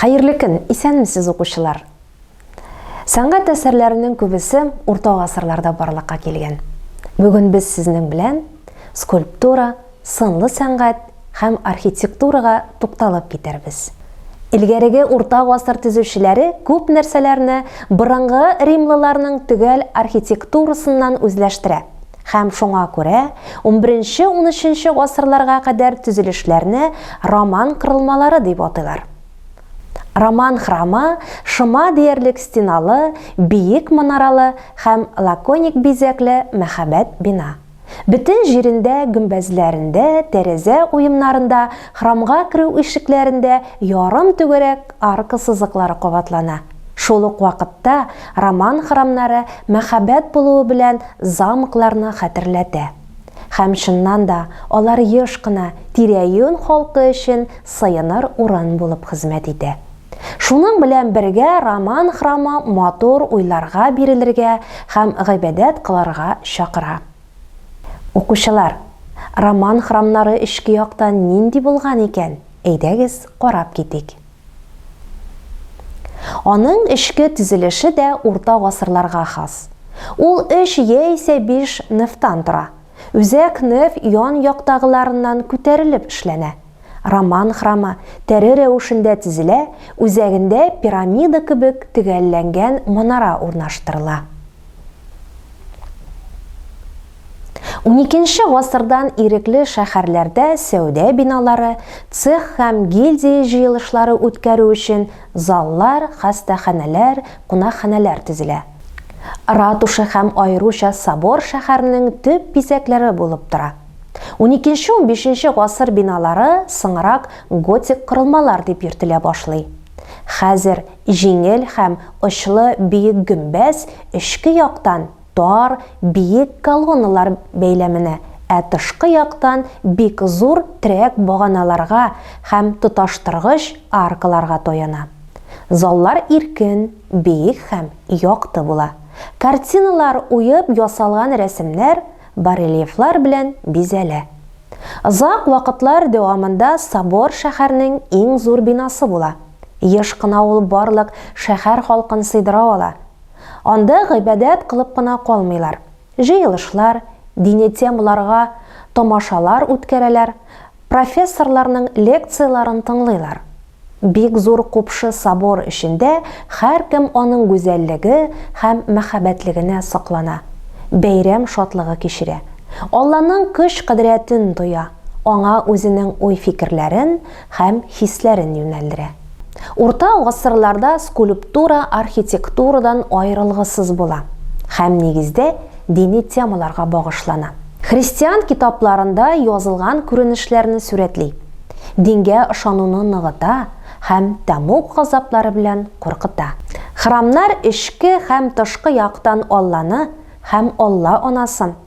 Хәерле көн, исәнмесез укучылар! Сәнгать әсәрләренең күбесе урта гасырларда барлыкка килгән. Бүген без сезнең белән скульптура, сынлы сәнгать һәм архитектурага тукталып китәрбез. Элгәреге урта гасыр төзүчеләре күп нәрсәләрне борынгы римлыларның төгәл архитектурасыннан үзләштерә. Һәм шуңа күрә унберенче-унөченче гасырларга кадәр төзелешләрне роман кырылмалары дип атыйлар. Роман храмы шома диярлек стеналы, биек манаралы һәм лаконик бизәкле мәһабәт бина. Бөтен җирендә, гөмбәзләрендә, тәрәзә уемнарында, храмга керү ишекләрендә ярым түгәрәк арка сызыклары кабатлана. Шул ук вакытта роман храмнары мәхәббәт булуы белән замкларны хәтерләтә. Һәм, чыннан да, алар еш кына тирә-юнь халкы өчен сыеныр урын булып хезмәт итә. Шуның белән бергә роман храмы матур уйларга бирелергә һәм гыйбадәт кылырга чакыра. Укучылар, роман храмнары эчке яктан нинди булган икән, әйдәгез карап китик. Аның эчке төзелеше дә урта гасырларга хас. Ул өч яисә биш нефтан тора. Үзәк неф ян яктагыларыннан күтәрелеп эшләнә. Роман храмы тәре рәвешендә төзелә, үзәгендә пирамида кебек төгәлләнгән манара урнаштырыла. 12 гасырдан ирекле шәһәрләрдә сәүдә биналары, цех һәм гильдия җыелышлары үткәрү өчен заллар, хастаханәләр, кунакханәләр төзелә. Ратуша һәм аеруча собор шәһәрнең төп бизәкләре булып тора. Уникенче-унбишенче гасыр биналары соңрак готик корылмалар дип йөртелә башлый. Хәзер җиңел һәм очлы биек гөмбәз эчке яктан тар, биек колонналар бәйләменә, ә тышкы яктан бик зур терәк баганаларга һәм тоташтыргыч аркаларга таяна. Заллар иркен, биек һәм якты була. Картиналар уеп ясалган рәсемнәр, барельефлар белән бизәлә. Озак вакытлар дәвамында собор шәһәрнең иң зур бинасы була. Еш кына ул барлык шәһәр халкын сыйдыра ала. Анда гыйбадәт кылып кына калмыйлар, җыелышлар, дини темаларга тамашалар үткәрәләр, профессорларның лекцияләрен тыңлыйлар. Бик зур купшы собор эчендә һәркем аның гүзәллеге һәм мәһабәтлегенә соклана, бәйрәм шатлыгы кичерә, Алланың көч-кодрәтен тоя, аңа үзенең уй-фикерләрен һәм хисләрен юнәлдерә. Урта гасырларда скульптура архитектурадан аерылгысыз була һәм нигездә дини темаларга багышлана. Христиан китапларында язылган күренешләрне сурәтли, дингә ышануны ныгыта һәм тәмуг газаплары белән куркыта. Храмнар эчке һәм тышкы яктан Алланы һәм Алла анасын,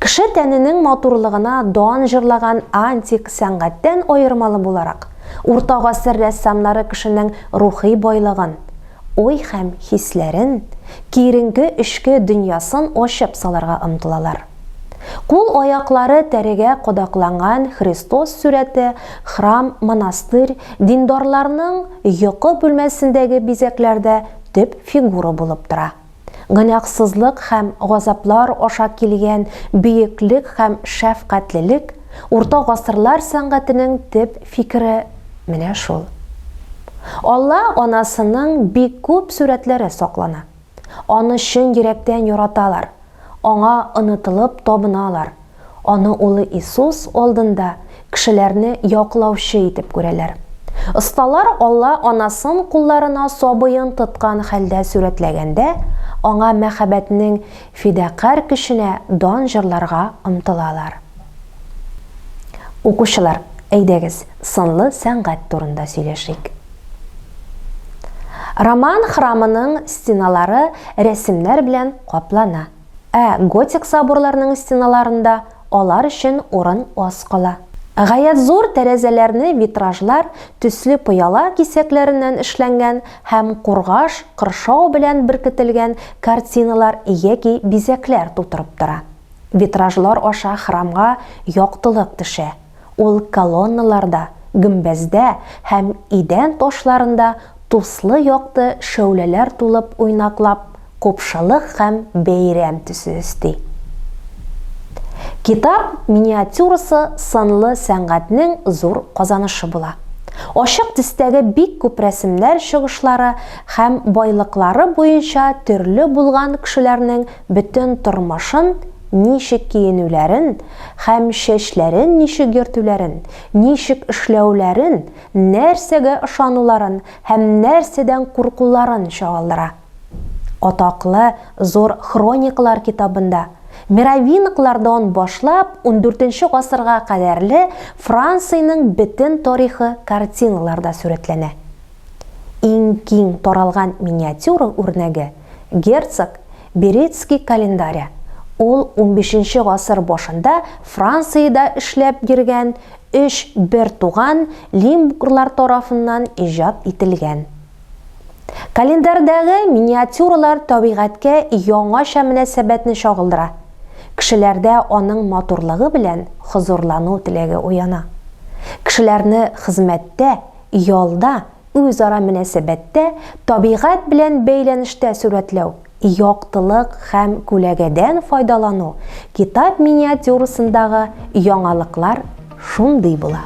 Кеше тәненең матурлыгына дан җырлаган антик сәнгатьтән аермалы буларак, урта гасыр рәссамнары кешенең рухи байлыгын, уй һәм хисләрен, киеренке эчке дөньясын ачып салырга омтылалар. Кул-аяклары тәрегә кадакланган Христос сурәте, храм, монастырь, диндарларның йокы бүлмәсендәге бизәкләрдә төп фигура булып тора. Гөнаһсызлык һәм газаплар аша килгән бөеклек һәм шәфкатьлелек, урта гасырлар сәнгатенең төп фикере менә шул. Алла Анасының бик күп сурәтләре саклана. Аны чын йөрәктән яраталар, Аңа онытылып табыналар. Аны Улы Иисус алдында кешеләрне яклаучы итеп күрәләр. Осталар Алла Анасын кулларына сабыен тоткан хәлдә сурәтләгәндә, Аңа мәхәббәтнең фидакарь көченә дан җырларга омтылалар. Укучылар, әйдәгез, сынлы сәнгать турында сөйләшик. Роман храмының стеналары рәсемнәр белән каплана. Ә готик соборларның стеналарында алар өчен урын аз кала. Гаять зур тәрәзәләрне витражлар, төсле пыяла кисәкләреннән эшләнгән һәм кургаш, кыршау белән беркетелгән картиналар яки бизәкләр тутырып тора. Витражлар аша храмга яктылык төшә. Ул колонналарда, гөмбәздә һәм идән ташларында туслы-якты шәүләләр тулып уйнаклап, купшылык һәм бәйрәм төсе өсти. Китап миниатюрасы сынлы сәнгатьнең зур казанышы була. Ачык төстәге бик күп рәсемнәр чыгышлары һәм байлыклары буенча төрле булган кешеләрнең Бөтен тормышын, ничек киенүләрен һәм чәчләрен ничек йөртүләрен, ничек эшләүләрен, нәрсәгә ышануларын һәм нәрсәдән куркуларын чагылдыра. Атаклы Зур хроникалар китабында Меровинглардан башлап ундүртенче гасырга кадәрле Франциянең бөтен тарихы картиналарда сурәтләнә. Иң киң таралган миниатюра үрнәге, Герцог Берецкий календаре, ул унбишенче гасыр башында Франциядә эшләп йөргән өч бертуган Лимбурлар тарафыннан иҗат ителгән. Календарьдәге миниатюралар табигатькә яңача мөнәсәбәтне чагылдыра, кешеләрдә аның матурлыгы белән хозурлану теләге уяна. Кешеләрне хезмәттә, ялда, Үзара мөнәсәбәттә табигать белән бәйләнештә сурәтләү, яктылык һәм күләгәдән файдалану Китап миниатюрасындагы яңалыклар шундый була.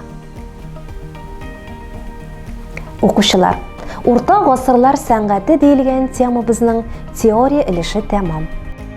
Укучылар, Урта гасырлар сәнгате диелгән темабызның теория өлеше тәмам.